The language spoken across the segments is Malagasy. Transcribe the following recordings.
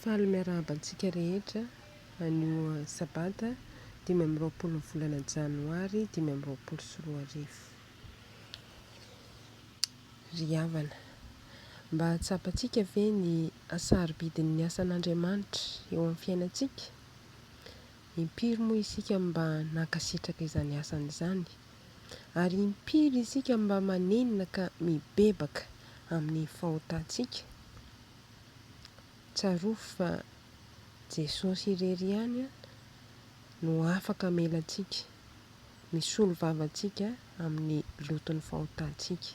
Faly miarahaba antsika rehetra anio sabata dimy amby roapolo ny volana janoary dimy amby roapolo sy roa arivo. Ry havana, mba tsapantsika ve ny hasarobidin'ny asan'Andriamanitra eo amin'ny fiainantsika? Impiry moa isika no mba nankasitraka izany asany izany? Ary impiry isika mba manenina ka mibebaka amin'ny fahotantsika? Tsarovy fa Jesosy irery ihany no afaka hamela antsika, misolo vava antsika amin'ny loton'ny fahotantsika.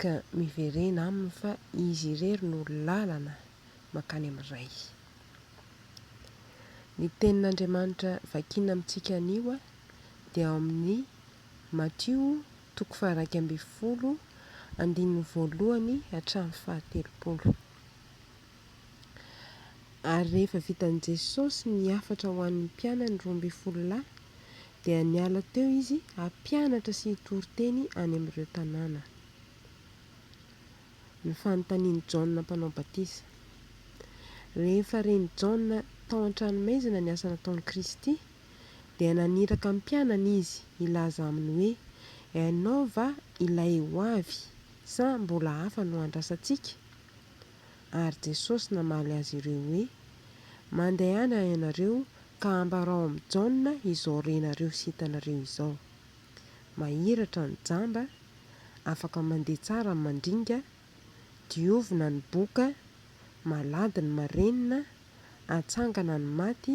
Ka miverena Aminy fa Izy irery no lalana mankany amin'ny Ray. Ny tenin'Andriamanitra vakiana amintsika anio dia ao amin'ny Matio toko faha-iraika ambin'ny folo andininy voalohany hatramin'ny fahatelopolo. Ary rehefa vitan'i Jesosy ny hafatra ho an'ny mpianany roa ambin'ny folo lahy dia niala teo izy hampianatra sy hitory teny any amin'ireo tanàna. Ny fanontanian'i Jaona Mpanao Batisa. Rehefa ren'i Jaona tao an-tranomaizina ny asa nataon'i Kristy, dia naniraka ny mpianany izy hilaza aminy hoe, Ianao va ilay ho avy, sa mbola hafa no andrasantsika? Ary Jesosy namaly azy ireo hoe, Mandehana ianareo ka ambarao amin'i Jaona izao renareo sy hitanareo izao, Mahiratra ny jamba afaka mandeha tsara ny mandringa, diovina ny boka, malady ny marenina, atsangana ny maty,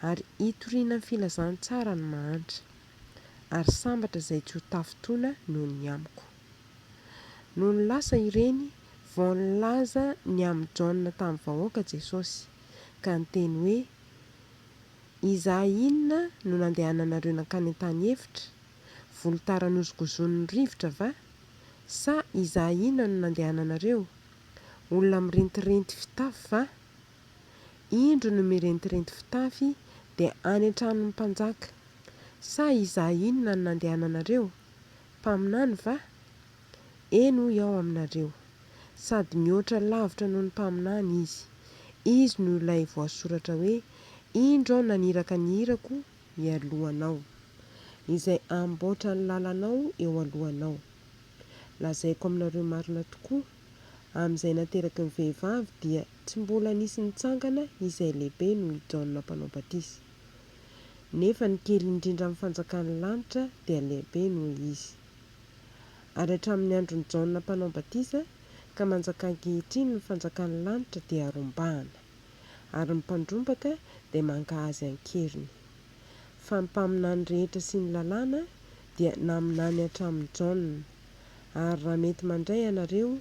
ary hitoriana ny filazantsara ny mahantra. Ary sambatra izay tsy ho tafintoana noho ny amiko. Nony lasa ireny, vao nilaza ny amin'i Jaona tamin'ny vahoaka Jesosy, ka niteny hoe, Izahay inona no nandehananareo nankany an-tany efitra? Volotara nozokozonin'ny rivotra va? Sa izahay inona no nandehananareo? Olona mirentirenty fitafy va? Indro ny mirentirenty fitafy dia any an-tranon'ny mpanjaka. Sa izahay inona no nandehananareo? Mpaminany va? Eny hoy aho aminareo, sady mihoatra lavitra noho ny mpaminany izy. Izy no ilay voasoratra hoe, Indro aho naniraka ny irako mialohanao, izay hamboatra ny lalanao eo alohanao. Lazaiko aminareo marina tokoa, amin'izay nateraky ny vehivavy dia tsy mbola nisy nitsangana izay lehibe noho i Jaona Mpanao Batisa. Nefa ny kely indrindra amin'ny fanjakan'ny lanitra dia lehibe noho izy. Ary hatramin'ny andron'i Jaona Mpanao Batisa ka manjaka ankehitriny ny fanjakan'ny lanitra dia rombahana. ary ny mpandrombaka dia mankahazy an-keriny. Fa ny mpaminany rehetra sy ny lalàna dia naminany hatramin'i Jaona. Ary raha mety mandray ianareo,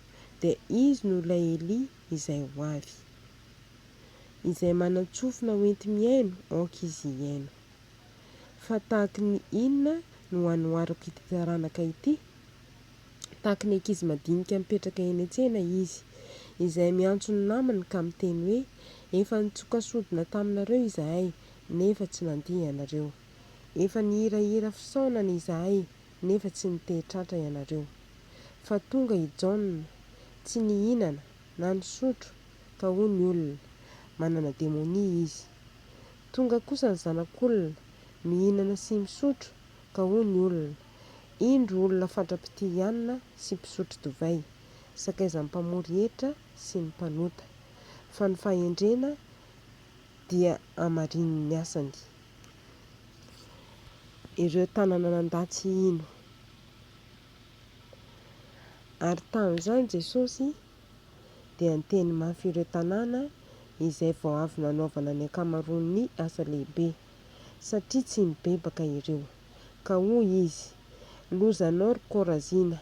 dia izy no ilay Elia izay ho avy. Izay manan-tsofina hoenti-mihaino, aoka izy hihaino. Fa tahaky ny inona no hanoharako ity taranaka ity? Tahaka ny ankizy madinika mipetraka eny an-tsena izy, izay miantso ny namany ka miteny hoe, Efa nitsoka sodina taminareo izahay, nefa tsy nandia ianareo. Efa nihirahira fisaonana izahay, nefa tsy nitehy tratra ianareo. Fa tonga i Jaona, tsy nihinana, na nisotro, fa hoy ny olona, Manana demonia izy. Tonga kosa ny Zanak'Olona, mihinana sy misotro, ka hoy ny olona, Indro olona fatra-pitia hianina sy mpisotro divay, sakaizan'ny mpamory hetra sy ny mpanota, fa ny fahendrena dia hamarinin'ny asany. Ireo tanana nandà tsy hino. Ary tamin'izany Jesosy dia niteny mafy ireo tanàna izay vao avy nanaovana ny ankamaroan'ny asa lehibe, satria tsy nibebaka ireo. Ka hoy izy, Lozanao ry Korazina!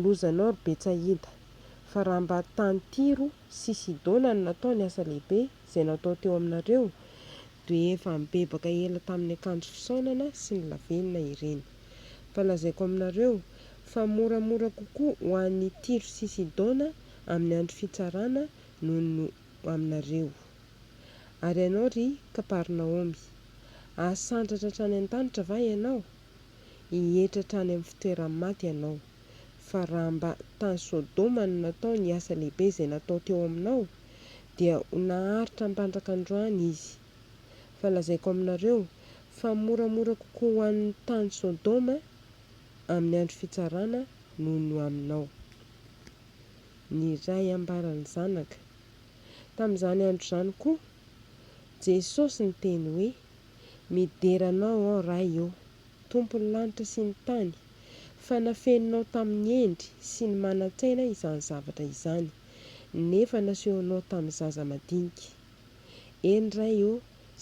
Lozanao ry Betsaida! Fa raha mba tany Tyro sy Sidona no natao ny asa lehibe izay natao teo aminareo, dia efa nibebaka ela tamin'ny akanjo fisaonana sy ny lavenona ireny. Fa lazaiko aminareo, fa moramora kokoa ho an'ny Tyro sy Sidona amin'ny andro fitsarana noho ny ho aminareo. Ary ianao, ry Kaparnaomy, hahasandratra hatrany an-danitra va ianao? Hihetra hatrany amin'ny fitoeran'ny maty ianao. Fa raha mba tany Sodoma no natao ny asa lehibe izay natao teo aminao, dia ho naharitra ampandraka androany izy. Fa lazaiko aminareo, fa moramora kokoa ho an'ny tany Sodoma amin'ny andro fitsarana noho ny ho aminao. ny Ray ambara ny Zanaka. Tamin'izany andro izany koa, Jesosy niteny hoe, Midera Anao aho, Ray ô, Tompon'ny lanitra sy ny tany, fa nafeninao tamin'ny hendry sy ny manan-tsaina izany zavatra izany, nefa nasehonao tamin'ny zaza madinika. Eny, Ray ô,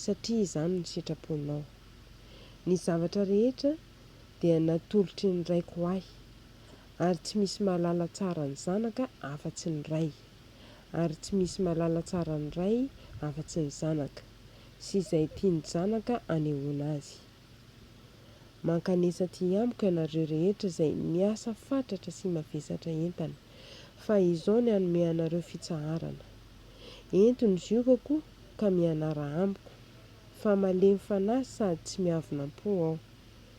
satria izany ny sitraponao. Ny zavatra rehetra dia natolotry ny Raiko ho ahy. ary tsy misy mahalala tsara ny zanaka afa-tsy ny ray, ary tsy misy mahalala tsara ny ray afa-tsy ny zanaka, sy izay tia ny zanaka anehoana azy. Mankanesa aty amiko ianareo rehetra izay miasa fatratra sy mavesatra entana, fa izao ny hanome anareo fitsaharana. Ento ny ziokako ka mianara amiko, fa malemy fanahy sady tsy miavonam-po aho.